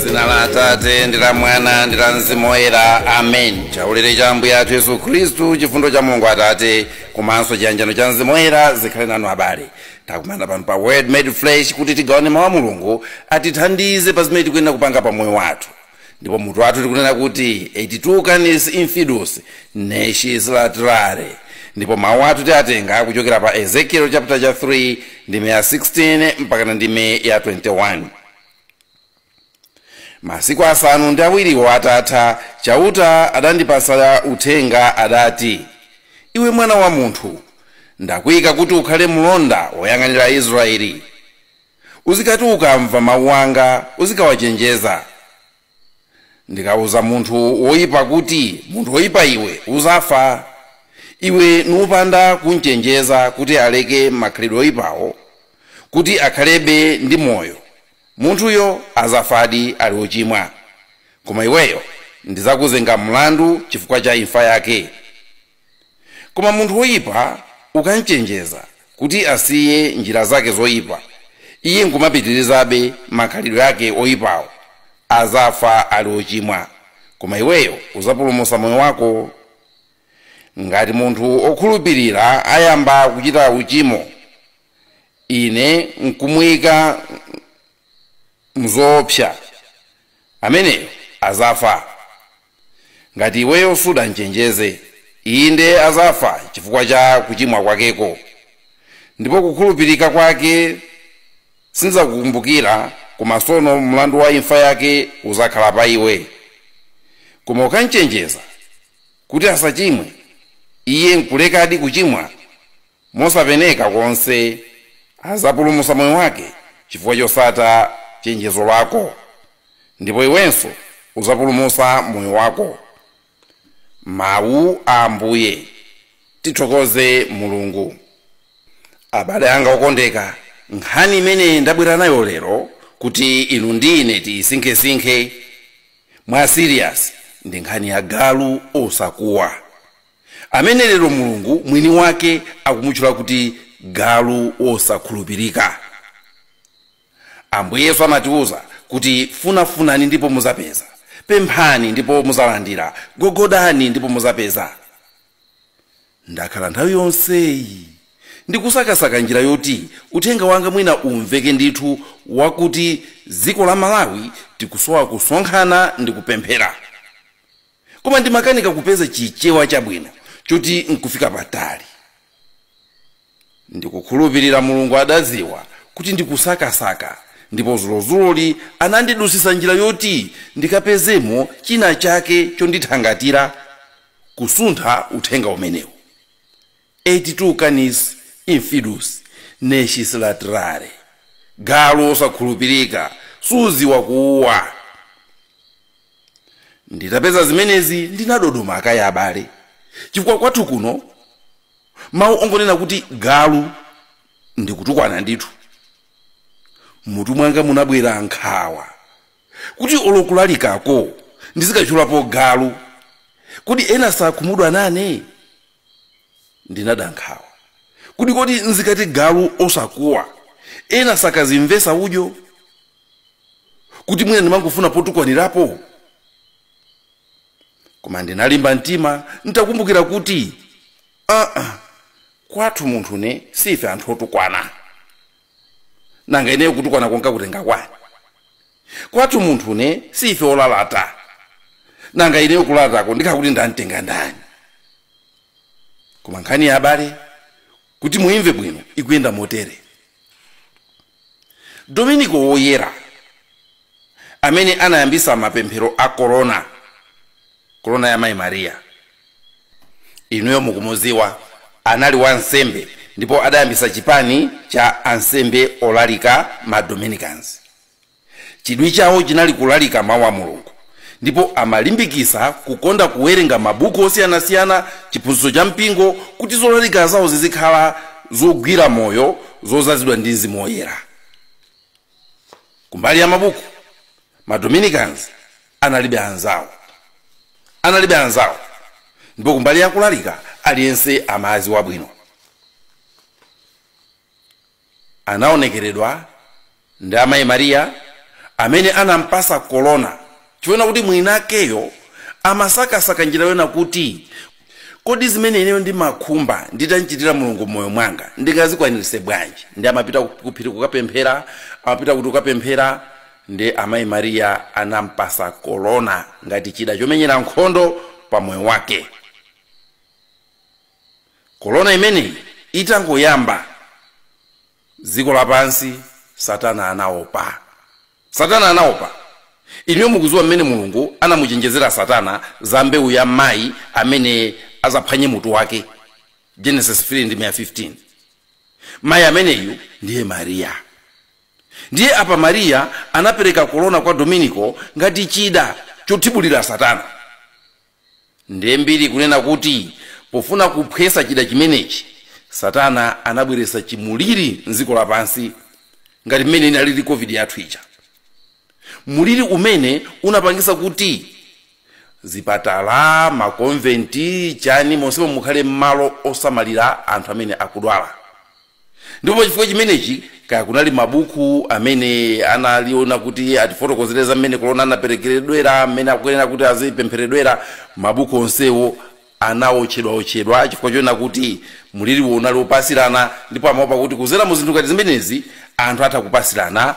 zina la atate ndi la mwana ndi la mzimu woyera amen chaulere cha ambuye athu yesu khristu chifundo cha mulungu atate komanso chiyanjano cha mzimu woyera zikhale nanu abale takumana pano pa word made flesh kuti tigawane mawu a mulungu atithandize pa zimene tikuyenera kupanga pa moyo wathu ndipo mutu wathu tikunena kuti et tu canis infidus nescis latrare ndipo mawu athu tiatenga kuchokera pa ezekiel chapter cha 3 ndime ya 16 mpakana ndime ya 21 masiku asanu ndi awiriwo atatha chauta adandipasa uthenga adati iwe mwana wa munthu ndakuyika kuti ukhale mlonda woyang'anira israeli Uzikati ukamva mawu anga uzikawachenjeza. Ndikauza munthu woipa kuti, Munthu woipa iwe, udzafa, iwe nupanda kum'chenjeza kuti aleke makhalidwe oipawo kuti akhalebe ndi moyo, munthuyo adzafadi ali wochimwa. Koma iweyo ndidzakuzenga mlandu chifukwa cha imfa yake. Koma munthu woyipa ukamchenjeza kuti asiye njira zake zoyipa, iye nkumapitirizabe makhalidwe ake oyipawo, azafa ali ochimwa, koma iweyo uzapulumusa moyo wako. Ngati munthu okhulupirira ayamba kuchita uchimo, ine nkumuyika mzoopsa, ameneyo azafa. Ngati iweyo sudamchenjeze, inde azafa chifukwa cha kuchimwa kwakeko, ndipo kukhulupirika kwake sindidzakukumbukira, koma sono mlandu wa imfa yake uzakhala pa iwe. Koma ukamchenjeza kuti asachimwe, iye nkulekadi kuchimwa. mosapeneka konse azapulumusa moyo wake chifukwa chosata chenjezo lako ndipo iwenso uzapulumusa moyo wako mawu a ambuye tithokoze mulungu abale anga okondeka nkhani imene ndabwera nayo lero kuti inu ndi ine tiyisinkhesinkhe mwa serious ndi nkhani ya galu osakuwa amene lero mulungu mwini wake akumutchula kuti galu wosakhulupirika ambuye yesu amatiwuza kuti funafunani ndipo muzapeza pemphani ndipo muzalandira gogodani ndipo muzapeza ndakhala nthawi yonseyi ndikusakasaka njira yoti uthenga wanga mwina umveke ndithu wakuti dziko la malawi tikusowa kusonkhana ndi kupemphera koma ndimakanika kupeza chichewa chabwino choti nkufika patali ndikukhulupirira mulungu adadziwa kuti ndikusakasaka ndipo zulozuloli anandidusisa njira yoti ndikapezemo china chake chondithangatira kusuntha uthenga umenewu Et tu canis infidus nescis latrare galu wosakhulupirika suziwa kuuwa nditapeza zimenezi ndinadodoma kaya abale chifukwa kwathu kuno mawu ongonena kuti galu ndikutukwana ndithu mutu mwanga munabwera nkhawa kuti olokulalikako ndizikachulapo galu kodi ena sakhumudwa nane ndinada nkhawa kuti kodi nzikati galu osakuwa ena sakazimvesa udyo kuti mwina ndimangofuna potukwanirapo koma ndinalimba mtima ntakumbukira kuti aa kwathu munthune si ife anthu otukwana nanga ineyo kutukwana konka kutenga kwani kwathu munthune si ife olalata nanga ineyo kulalatako ndikhala kuti ndamtenga ndani koma nkhani ya abale kuti muimve bwino ikuyenda motere dominiko woyera amene anayambisa mapemphero a korona korona ya mayi mariya inuyo mukumuziwa anali wa nsembe ndipo adayambisa chipani cha ansembe olalika ma dominicans chidwi chawo chinali kulalika mawu a mulungu ndipo amalimbikisa kukonda kuwerenga mabuku osiyanasiyana chiphunzitso cha mpingo kuti zolalika zawo zizikhala zogwira moyo zozazidwa ndi mzimu woyera kumbali ya mabuku madominicans analibe anzawo analibe anzawo ndipo kumbali yakulalika aliyense amaziwa bwino anaonekeredwa ndi amayi mariya amene anampasa kolona chifukwa kuti mwinakeyo amasakasaka njira yonena kuti kodi zimene ineyo ndimakhumba nditamchitira mulungu mmoyo mwanga ndingazikwaniritse bwanji ndi amapita kuphiri kukapemphera amapita kuti kukapemphera ndi amayi mariya anampasa korona ngati chida chomenyera nkhondo pa moyo wake korona imeneyi itangoyamba dziko lapansi satana anaopa Satana anaopa. Inuyo mukuziwa mmene Mulungu anamuchenjezera Satana za mbewu ya mai amene azaphwanye mutu wake, Genesis 3 ndime ya 15. Mai ameneyu ndiye Maria. Ndiye apa Maria anapereka kolona kwa Dominiko ngati chida chothibulira Satana. Ndiye mbiri ikunena kuti pofuna kuphwesa chida chimenechi, Satana anabweretsa chimliri m'dziko lapansi ngati mmene inalili Covid yathu ija. Mliri umene unapangitsa kuti zipatala, makomventi, chani monsemo mukhale malo osamalira anthu amene akudwala. Ndipo pa chifukwa chimenechi, kaya kunali mabuku amene analiwona kuti atifotokozere za mmene kolona anaperekeredwera, mmene akuyenera kuti azipempheredwera, mabuku onsewo anawotchedwawotchedwa chifukwa chonena kuti mliriwo unali wopatsirana ndipo amaopa kuti kudzera mu zinthu ngati zimenezi anthu atha kupatsirana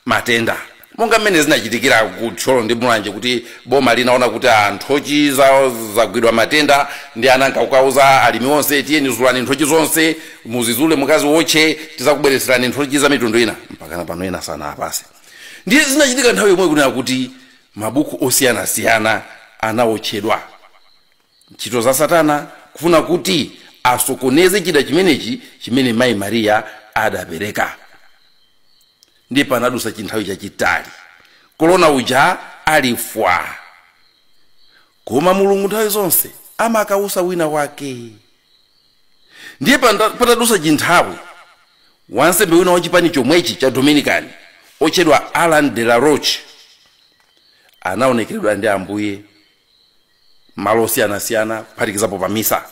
matenda monga mmene zinachitikira ku thyolo ndi mulanje kuti boma linaona kuti nthochi zawo zagwidwa matenda ndi ananka kukauza alimi onse tiyeni zulani nthochi zonse muzizule mukaziwotche tizakubwereserani nthochi za mitundu ina mpakana pano ena sanaapase ndiye zinachitika nthawi yomwe kunena kuti mabuku osiyanasiyana anawotchedwa Ntchito za Satana kufuna kuti asokoneze chida chimenechi chimene mayi Mariya adapereka. Ndiye panadusa chinthawi chachitali kolona uja ali fwa, koma Mulungu nthawi zonse amakautsa wina wake. Ndiye patadusa chinthawi wansembe wina wa chipani chomwechi cha Dominican otchedwa Alan de la Roche anaonekeredwa ndi Ambuye malo osiyanasiyana kuphatikizapo pa misa.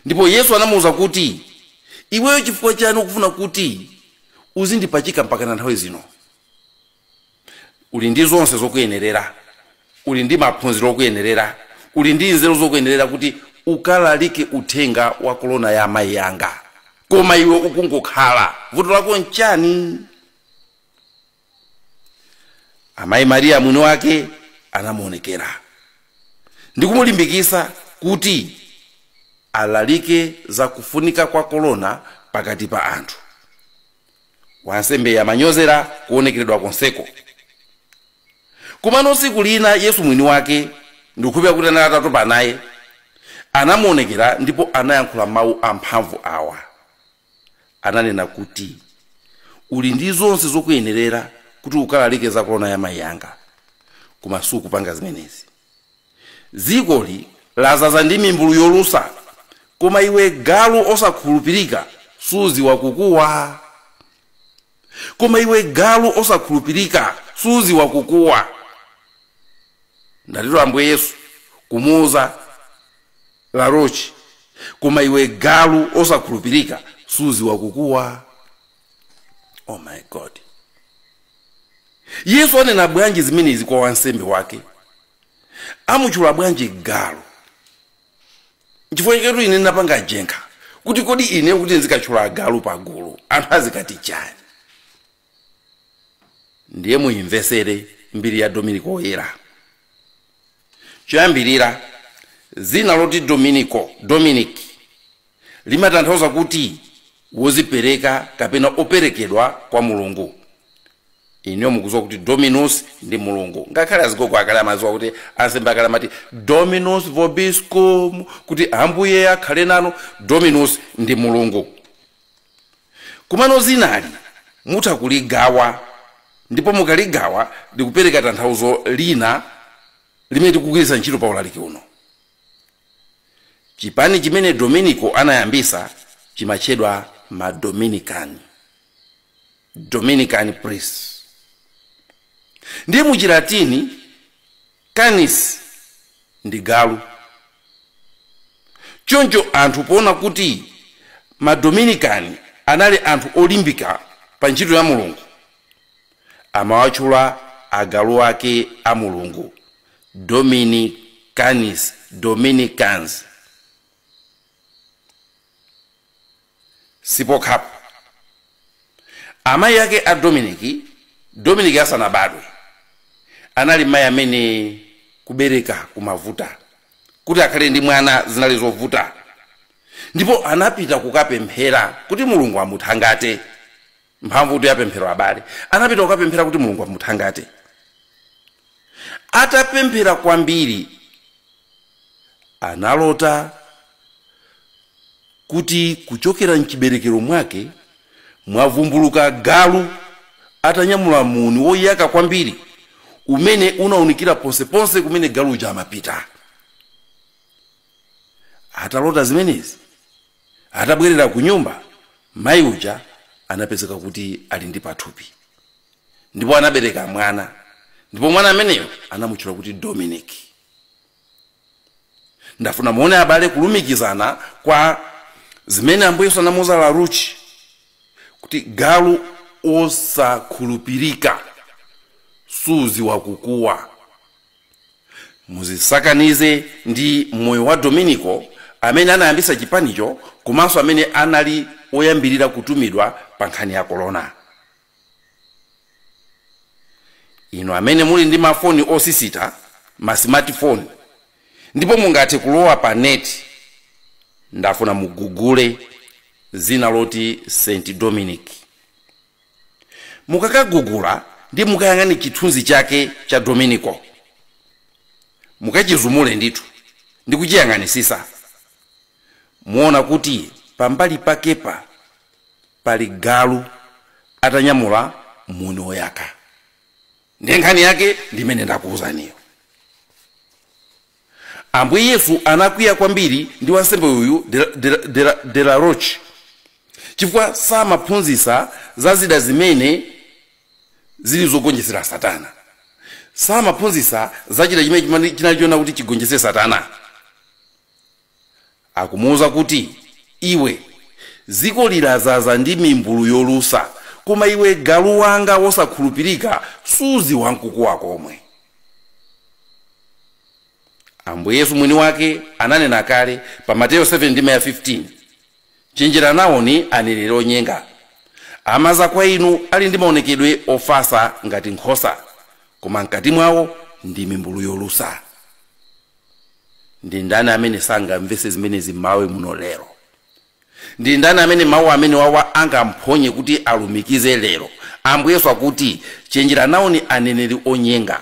Ndipo Yesu anamuuza kuti, Iweyo chifukwa chiyani ukufuna kuti uzindipachika mpakana nthawi zino? Uli ndi zonse zokuyenerera. Uli ndi maphunziro okuyenerera. Uli ndi nzeru zokuyenerera kuti ukalalike uthenga wa kolona ya amayi yanga. Koma iwe ukungokhala. Vuto lako n'chiyani? amayi mariya mwini wake anamuonekera ndi kumulimbikitsa kuti alalike za kufunika kwa korona pakati pa anthu wansembeyu amanyozera kuonekeredwa konseko komano tsiku lina yesu mwini wake ndikukhulupira kuti anali atatopa naye anamuonekera ndipo anayankhula mawu amphamvu awa ananena kuti uli ndi zonse zokuyenerera kuti ukalalike za korona ya mayi yanga koma sukupanga zimenezi dzikoli lazaza ndi mimbulu yolusa koma iwe galu osakhulupirika suziwa kukuwa koma iwe galu osakhulupirika suziwa kukuwa ndiyetu Ambuye yesu kumuuza larochi koma iwe galu osakhulupirika suziwa kukuwa oh my god yesu anena bwanji zimenezi kwa wansembe wake amutchula bwanji galu chifukwa chaketu ine ndinapanga ajenkha kuti kodi ineyo kuti ndizikatchula agalu pagulu anthu azikati chani ndiye muyimvesere mbiri ya dominiko oyera choyambirira dzina loti dominiko dominic limatanthauza kuti wozipereka kapena operekedwa kwa mulungu inuyo mukuziwa kuti dominus ndi mulungu ngakhale azigogo akale amaziwa kuti ansembe akale amati dominus vobiscum kuti ambuye akhale nanu dominus ndi mulungu komano zinali mutha kuligawa ndipo mukaligawa likupereka tanthauzo lina limene tikugwiritsa ntchito pa ulaliki uno Chipani chimene Dominico anayambisa chimatchedwa ma Dominican, Dominican Priests. Ndiye mu chilatini Canis ndi galu. Choncho anthu poona kuti ma Dominican anali anthu olimbika pa ntchito ya Mulungu, amawatchula agalu ake a Mulungu, Domini Canis Dominicans. Sipokhapo, amayi ake a Dominic, Dominic asanabadwe, anali mayi amene kubereka kumavuta. Kuti akhale ndi mwana zinali zovuta, ndipo anapita kukapemphera kuti Mulungu amuthangate. mphamvutu ya pemphero abale anapita kukapemphera kuti mulungu amuthangate atapemphera kwambiri analota kuti kuchokera mchiberekero mwake mwavumbuluka galu atanyamula muni woyaka kwambiri umene unaunikira ponseponse kumene galu uja amapita atalota zimenezi Atabwerera kunyumba, mayi uja anapezeka kuti ali ndi pathupi ndipo anabereka mwana ndipo mwana ameneyo anamutchula kuti Dominic. Ndafuna muone abale kulumikizana kwa zimene Ambuye Yesu anamuuza Laruchi kuti galu osakhulupirika suziwa kukuwa. muzisakanize ndi moyo wa dominico amene anayambisa chipanicho komanso amene anali woyambirira kutumidwa pa nkhani ya korona inu amene muli ndi mafoni osisita ma smartphone ndipo mungathe kulowa pa neti ndafuna mugugule zina loti st dominic mukakagugula ndiye mukayang'ane chithunzi chake cha dominico mukachizumule ndithu ndi kuchiyang'anisisa muona kuti pambali pakepa pali galu atanyamula muni woyaka ndiye nkhani yake ndi imene ndakuwuzaniyo Ambuye Yesu anakwiya kwambiri ndi wansembe uyu de la Roche chifukwa samaphunzisa za zida zimene zili zogonjesera Satana, samaphunzisa za chida chimene chinali chona kuti chigonjese Satana. Akumuuza kuti, Iwe, dzikoli lazaza ndi mimbulu yolusa, koma iwe galu wanga wosakhulupirika, suziwa n'kukuwa komwe. Ambuye Yesu mwini wake ananena kale pa Mateyo 7:15, Chenjera nawoni aneneri onyenga. Amaza kwa inu ali ndi maonekedwe ofasa ngati nkhosa, koma mkati mwawo ndi mimbulu yolusa. ndi ndani amene sangamvese zimenezi m'malawi muno lero ndi ndani amene mawu amenewa awa angamphonye kuti alumikize lero ambuye yesu akuti chenjera nawoni aneneri onyenga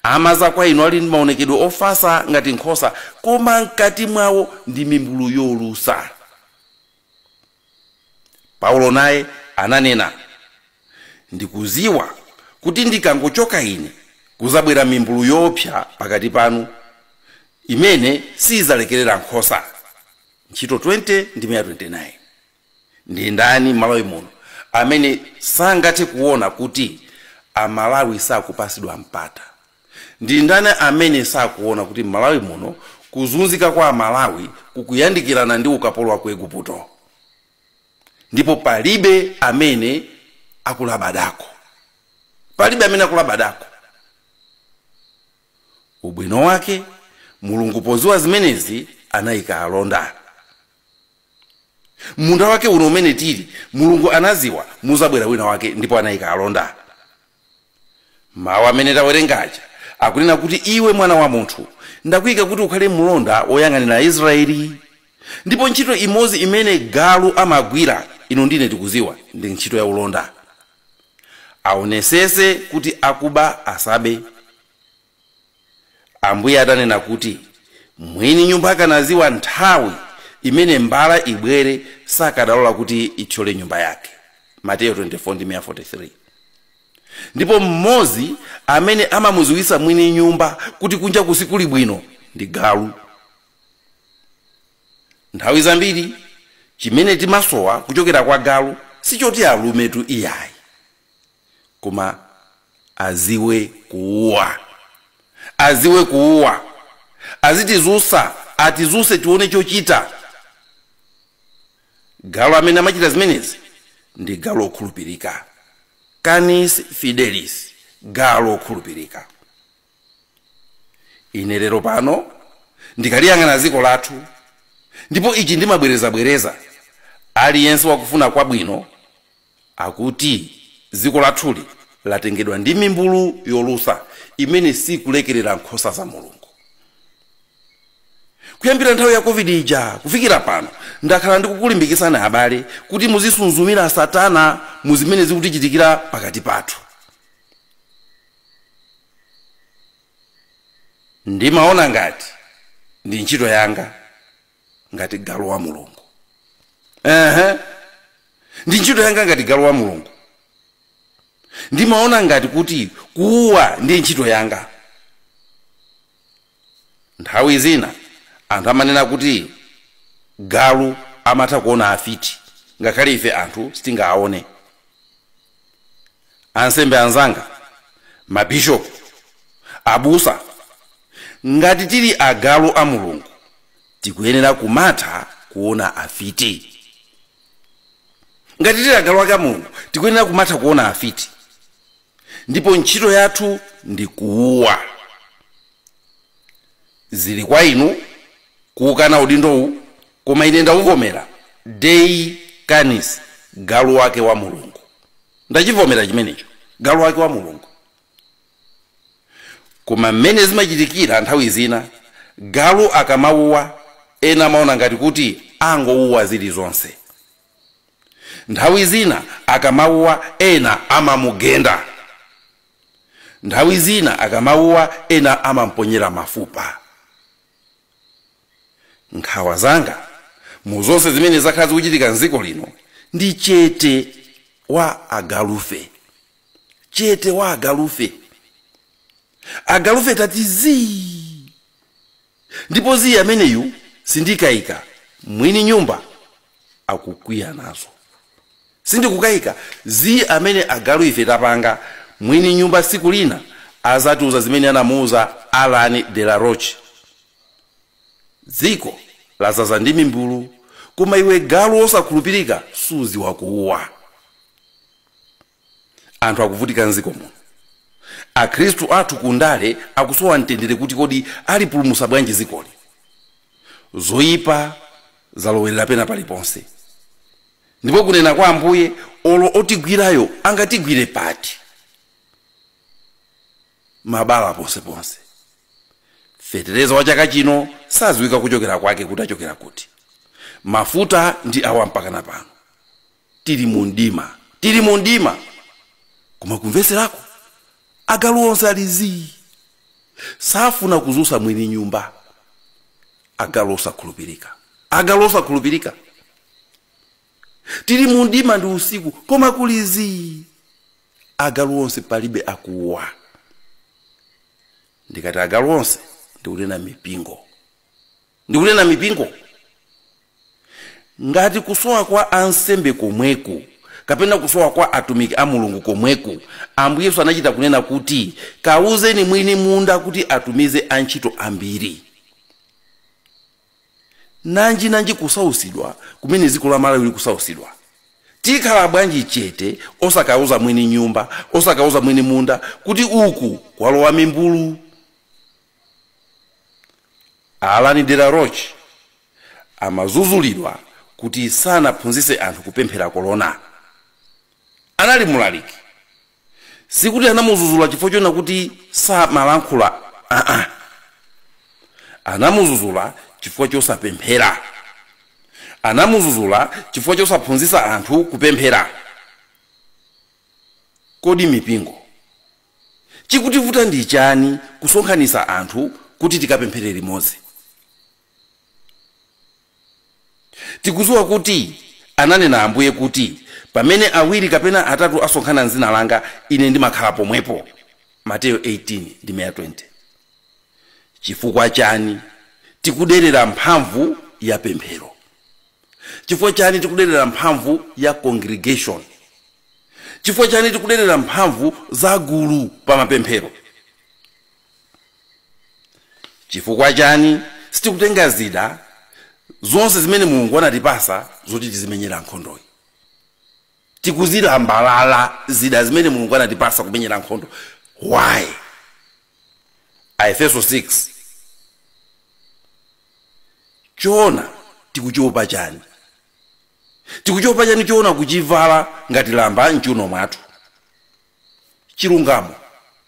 amaza kwa inu ali ndi maonekedwe ofasa ngati nkhosa koma mkati mwawo ndi mimbulu yolusa Paulo naye ananena, Ndikuziwa kuti ndikangochoka ine, kuzabwera mimbulu yoopsa pakati panu, imene siidzalekerera nkhosa. Ntchito 20:29. Ndi ndani m'Malawi muno amene sangathe kuona kuti Amalawi sakupasidwa mpata? Ndi ndani amene sakuona kuti m'Malawi muno kuzunzika kwa Amalawi kukuyandikirana ndi ukapolo wa ku Eguputo? Ndipo palibe amene akulabadako. Palibe amene akulabadako. Ubwino wake, Mulungu poziwa zimenezi anaika alonda. M'munda wake uno umene tili, Mulungu anaziwa muzabwera wina wake ndipo anaika alonda. mawu amene tawerenga aja akunena kuti iwe mwana wa munthu ndakuyika kuti ukhale mlonda woyang'anira israeli ndipo ntchito imodzi imene galu amagwira inu ndi ine tikuziwa ndi ntchito ya ulonda aonesese kuti akuba asabe Ambuye atanena kuti mwini nyumba akanadziwa nthawi imene mbala ibwere sakadalola kuti ithyole nyumba yake. Mateyo 24 ndi 43. Ndipo mmodzi amene amamudziwitsa mwini nyumba kuti kunjaku sikuli bwino ndi galu. Nthawi zambiri chimene timasowa kuchokera kwa galu sichoti alumetu iyayi. koma aziwe kuuwa aziwe kuuwa azitizusa atizuse tione chochita galu amene amachita zimenezi ndi galu okhulupirika canis fidelis galu okhulupirika ine lero pano ndikaliyang'ana dziko lathu ndipo ichi ndimabwerezabwereza aliyense wakufuna kwabwino Akuti dziko lathuli latengedwa ndi mimbulu yolusa imene siikulekerera nkhosa za Mulungu. Kuyambira nthawi ya Covid ija kufikira pano, ndakhala ndikukulimbikitsani abale kuti muzisunzumira Satana mu zimene zikutichitikira pakati pathu. Ndimaona ngati ndi ntchito yanga. ngati galu wa mulungu ehe ndi ntchito yanga ngati galu wa mulungu ndimaona ngati kuti kuuwa ndi ntchito yanga nthawi zina anthu amanena kuti galu amatha kuona afiti ngakhale ife anthu sitingaone ansembe anzanga mabishopu abusa ngati tili agalu a mulungu tikuyenera kumatha kuona afiti ngati tili agalu ake a mulungu tikuyenera kumatha kuona afiti ndipo ntchito yathu ndi kuuwa Zili kwa inu kuwukana udindowu koma ine ndawuvomera, Dei canis, galu wake wa Mulungu. Ndachivomera chimenecho, galu wake wa Mulungu. Koma mmene zimachitikira nthawi zina, galu akamawuwa ena amaona ngati kuti angowuwa zilizonse. Nthawi zina akamawuwa ena amamugenda. nthawi zina akamauwa ena amamponyera mafupa nkhawa zanga mu zonse zimene zakhala zikuchitika mdziko lino ndi chete wa agalufe chete wa agalufe agalufe tati zii Ndipo zii ameneyu sindikaika mwini nyumba akukwiya nazo. Sindikukaika. Zii amene agalu ife tapanga mwini nyumba siku lina azatiuza zimene anamuuza Allan de la Roche. Dziko lazaza ndi mimbulu koma iwe galu wosakhulupirika suziwa kuuwa. anthu akuvutika mdziko muno akhristu athu kundale akusowa mtendere kuti kodi alipulumusa bwanji zikoli zoyipa zalowerera pena paliponse ndipo kunena kwa ambuye olo otigwirayo angatigwire pati mabala ponseponse fetereza wa chaka chino saziwika kuchokera kwake kuti achokera kuti mafuta ndi awa mpakana pano tili mu mdima tili mu mdima koma kumveserako agalu onse ali zii safuna kuzusa mwini nyumba agalu osakhulupirika agalu osakhulupirika tili mu mdima ndi usiku koma kuli zii agalu onse palibe akuuwa ndikati agalu onse ndikunena mipingo ndikunena mipingo ngati kusowa kwa ansembe komweku kapena kusowa kwa atumiki a mulungu komweku ambuye yesu anachita kunena kuti kawuzeni mwini munda kuti atumize antchito ambiri nanji nanji kusausidwa kumene dziko la malawi likusausidwa tikhala bwanji chete osakauza mwini nyumba osakauza mwini munda kuti uku kwalowa mimbulu Allan de la Roche amazuzulidwa kuti sanaphunzitse anthu kupemphera kolona. Anali mulaliki. Sikuti anamuzuzula chifukwa choona kuti samalankhula aa. Anamuzuzula chifukwa chosapemphera. Anamuzuzula chifukwa chosaphunzitsa anthu kupemphera. Kodi mipingo Chikutivuta ndi chani kusonkhanisa anthu kuti tikapemphere limodzi? Tikudziwa kuti ananena Ambuye kuti pamene awiri kapena atatu asonkhana m'dzina langa ine ndimakhala pomwepo, Mateyo 18 ndime ya 20. Chifukwa chani tikuderera mphamvu ya pemphero? Chifukwa chani tikuderera mphamvu ya congregation? Chifukwa chani tikuderera mphamvu za gulu pa mapemphero? Chifukwa chani sitikutenga zida zonse zimene Mulungu anatipasa zoti tizimenyera nkhondoyi? Tikuzilambalala zida zimene Mulungu anatipasa kumenyera nkhondo why? Aefeso 6 choona tikuchiopa chani? tikuchiopa chani choona kuchivala ngati lamba mchiuno mwathu? chilungamo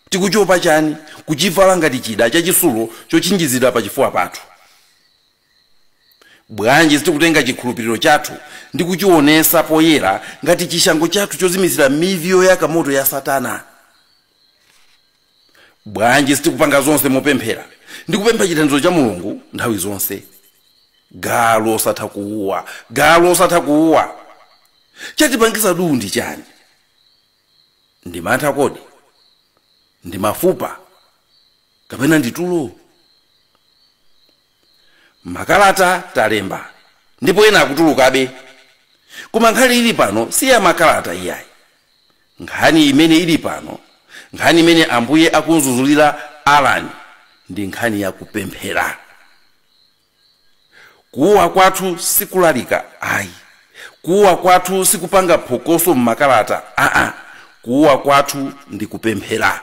tikuchiopa chani kuchivala ngati chida chachisulo chotchinjizira pachifuwa pathu? bwanji sitikutenga chikhulupiliro chathu ndi kuchionesa poyera ngati chishango chathu chozimitsira mivi yoyaka moto ya satana? bwanji sitikupanga zonse mopemphera ndi kupempha chithandizo cha mulungu nthawi zonse galu osatha kuuwa galu osatha kuuwa chatipangisa duu ndi chani ndi mantha kodi ndi mafupa kapena ndi tulo Makalata talemba ndipo ena akutulukabe. Koma nkhani ili pano si ya makalata iyayi. Nkhani imene ili pano, nkhani imene Ambuye akunzuzulira Alan ndi nkhani ya kupemphera. Kuuwa kwathu si kulalika ayi. Kuuwa kwathu si kupanga phokoso m'makalata aa. Kuuwa kwathu ndi kupemphera.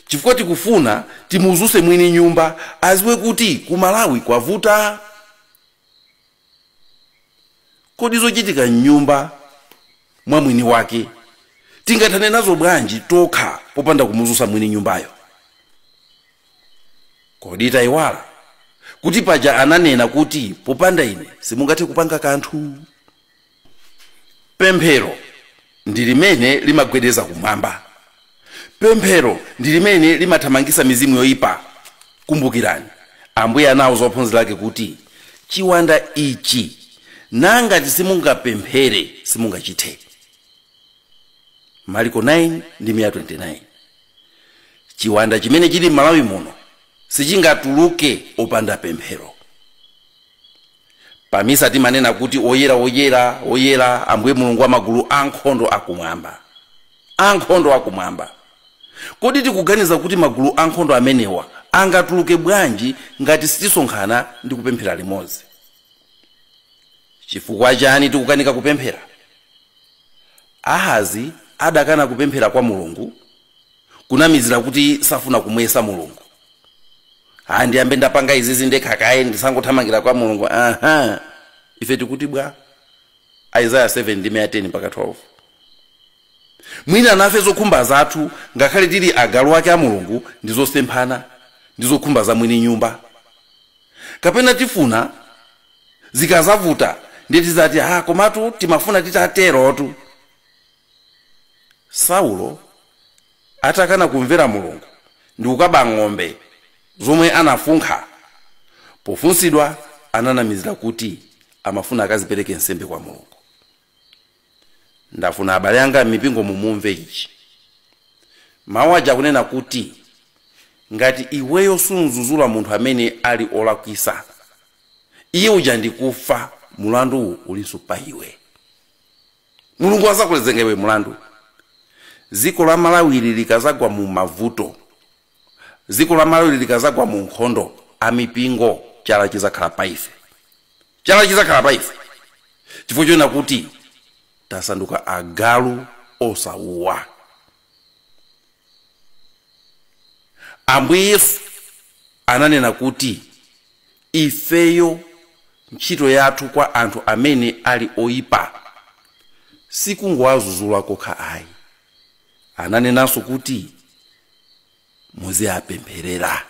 chifukwa tikufuna timuzuse mwini nyumba aziwe kuti ku malawi kwavuta kodi zochitika mnyumba mwa mwini wake tingathane nazo bwanji tokha popanda kumuzusa mwini nyumbayo kodi tayiwala kuti paja ananena kuti popanda ine simungathe kupanga kanthu pemphero ndi limene limagwedeza kumwamba pemphero ndi limene limathamangisa mizimu yoyipa kumbukirani ambuye anauza ophunzira ake kuti chiwanda ichi nangati simungapemphere simungachithe mariko 9 ndi 29 chiwanda chimene chili m'malawi muno sichingatuluke opanda pemphero Pa Misa timanena kuti, Oyera, oyera, oyera, Ambuye Mulungu wa magulu ankhondo akumwamba. Ankhondo akumwamba. Kodi tikuganiza kuti magulu ankhondo amenewa angatuluke bwanji ngati sitisonkhana ndi kupemphera limodzi? Chifukwa chani tikukanika kupemphera? Ahazi adakana kupemphera kwa Mulungu kunamizira kuti safuna kumuyesa mulungu ha ndiyambe ndapanga izizi ndekha kaye ndisangothamangira kwa mulungu aha ife tikuti bwa isaya 7 ndime ya 10 mpaka 12 mwina nafe zokhumba zathu ngakhale tili agalu ake a mulungu ndi zosemphana ndi zokhumba za mwini nyumba kapena tifuna zikazavuta ndiye tizati ha komatu timafuna titaterotu Saulo atakana kumvera Mulungu ndikukaba ng'ombe zomwe anafunkha, pofunsidwa ananamizira kuti amafuna akazipereke nsembe kwa Mulungu. Ndafuna abale anga m'mipingomu mumve ichi. Mawu aja akunena kuti ngati iweyo sumzuzula munthu amene ali olakwisa, iye uja ndikufa, mulanduwu ulinso pa iwe. mulungu azakuzenga iwe mulandu dziko la malawi ili likazagwa mu mavuto dziko la malawi likazagwa mu nkhondo amipingo chala chizakhala pa ife chala chizakhala pa ife chifukwa chonena kuti tasanduka agalu osauwa ambuye yesu ananena kuti Ifeyo ntchito yathu kwa anthu amene ali oipa si kungowazuzula kokha ayi. Ananenanso kuti muziapempherera.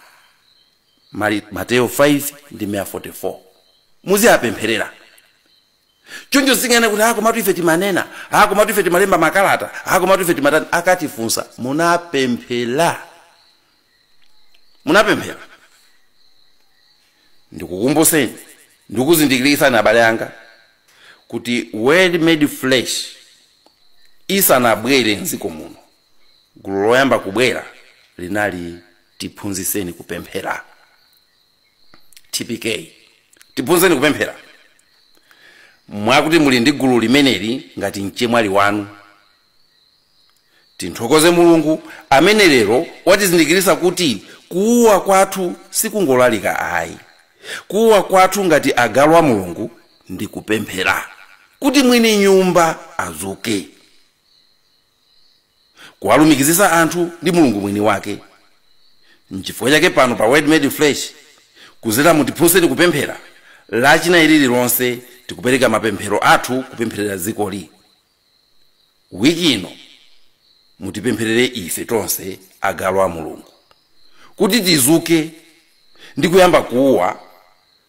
Mateyo 5 ndime ya 44. Muziapempherera. Choncho tisanene kuti, ah komatu ife timanena, ah komatu ife timalemba makalata, ah komatu ife timatani. Akatifunsa, munapemphera? Munapemphera? Ndikukumbuseni, ndikuzindikiritseni abale anga kuti word made flesh isanabwere mdziko muno, gulu loyamba kubwera linali tiphunzitseni kupemphera. tpk tiphunzitseni kupemphera mwakuti muli ndi gulu limeneli ngati mchemwali wanu tinthokoze mulungu amene lero watizindikiritsa kuti kuuwa kwathu sikungolalika ayi kuuwa kwathu ngati agalu a mulungu ndi kupemphera kuti mwini nyumba azuke kuwalumikizitsa anthu ndi mulungu mwini wake nchifukwa chake pano pa word made flesh kuzera mu tiphunzitseni kupemphera lachinayi lililonse tikupereka mapemphero athu kupempherera dzikoli wiki ino mutipempherere ife tonse agalu a mulungu kuti tizuke ndi kuyamba kuuwa